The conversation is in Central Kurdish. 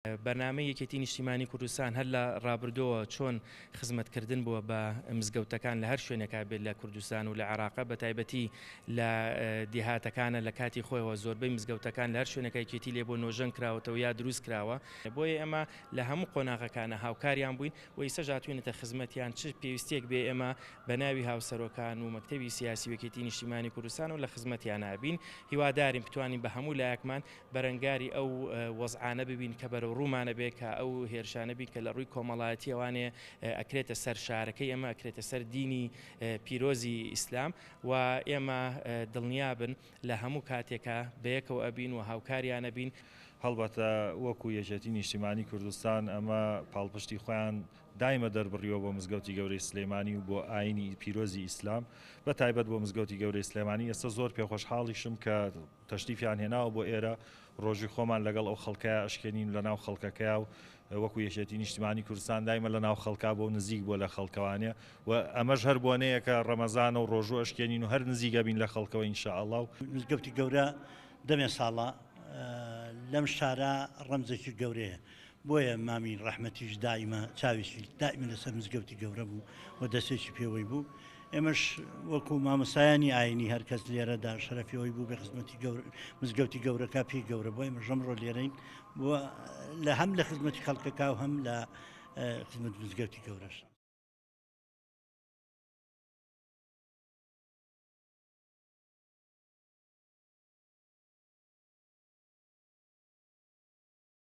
بەرنامەی یەکێتی نیشتیمانی کوردستان هەر لە ڕابردۆوە چۆن خزمەت کردن بووە بە مزگەوتەکان لە هەر شوێنێکا بێت لە کوردستان و لە عێراقە بە تایبەتی لە دێهاتەکانە لە کاتی خۆیەوە زۆربەی مزگەوتەکان لە هەر شوێنەکەیکێتی لێ بۆ نۆژەن کراوەتەوە یا دروست کراوە بۆیە ئێمە لە هەموو قۆناغەکانە هاوکاریان بووین و ئیسە ژاتوینەتە خزمەتیان چ پێویستێک بێ ئێمە بە ناوی هاوسەرۆکان و مەکتتەبی سیاسی وەکێتی نیشتیمانی کوردستان و لە خزمەتیان نابین هیوادارین بتوانین بە هەموو لایەکمان بەرەنگاری ئەو وەزعانە ببین کە بەرەو ڕوومانە بێ کە ئەو هێرشانە بین کە لە ڕووی کۆمەڵایەتیە وانێ ئەکرێتە سەر شارەکەی ئێمە ئەکرێتە سەر دینی پیرۆزی ئیسلام و ئێمە دڵنیابن لە هەموو کاتێکا بەیەکەوە ئەبین و هاوکاریان ئەبین. هەڵبەتە وەکو یەکێتی نیشتیمانی کوردستان ئەمە پاڵپشتی خۆیان دایمە دەربڕیوە بۆ مزگەوتی گەورەی سلێمانی و بۆ ئاینی پیرۆزی ئیسلام بە تایبەت بۆ مزگەوتی گەورەی سلێمانی ئێستا زۆر پێخۆشحاڵیشم کە تەشریفیان هێناوە بۆ ئێرە، ڕۆژووی خۆمان لەگەڵ ئەو خەڵکەیا ئەشکێنین و لەناو خەڵکەکەیا و وەکو یەکێتی نیشتمانی کوردستان دایمە لەناو خەڵکا بۆ و نزیک بۆ لە خەڵکەوانێ و ئەمەش هەر بۆنەیەکە ڕەمەزانە و ڕۆژوو ئەشکێنین و هەر نزیک ئەبین لە خەڵکەوە ان شاء اللە و مزگەوتی گەورە دەمێ ساڵە لەم شارە ڕەمزێکی گەورەیە بۆیە مامی ڕەحمەتیش دائیمە چاوێکی دائیمە لەسەر مزگەوتی گەورە بوو و دەسێکی پێوەی بوو ئێمەش وەکو مامۆسایانی ئاینی هەرکەس لێرەدا شەرەفی ئەوی بوو بە خزمەتی گەور مزگەوتی گەورەکە پێی گەورە بۆی مەژەم ڕۆ لێرەین لە هەم لە خزمەتی خەڵکەکە و هەم لە خزمەت مزگەوتی گەورەش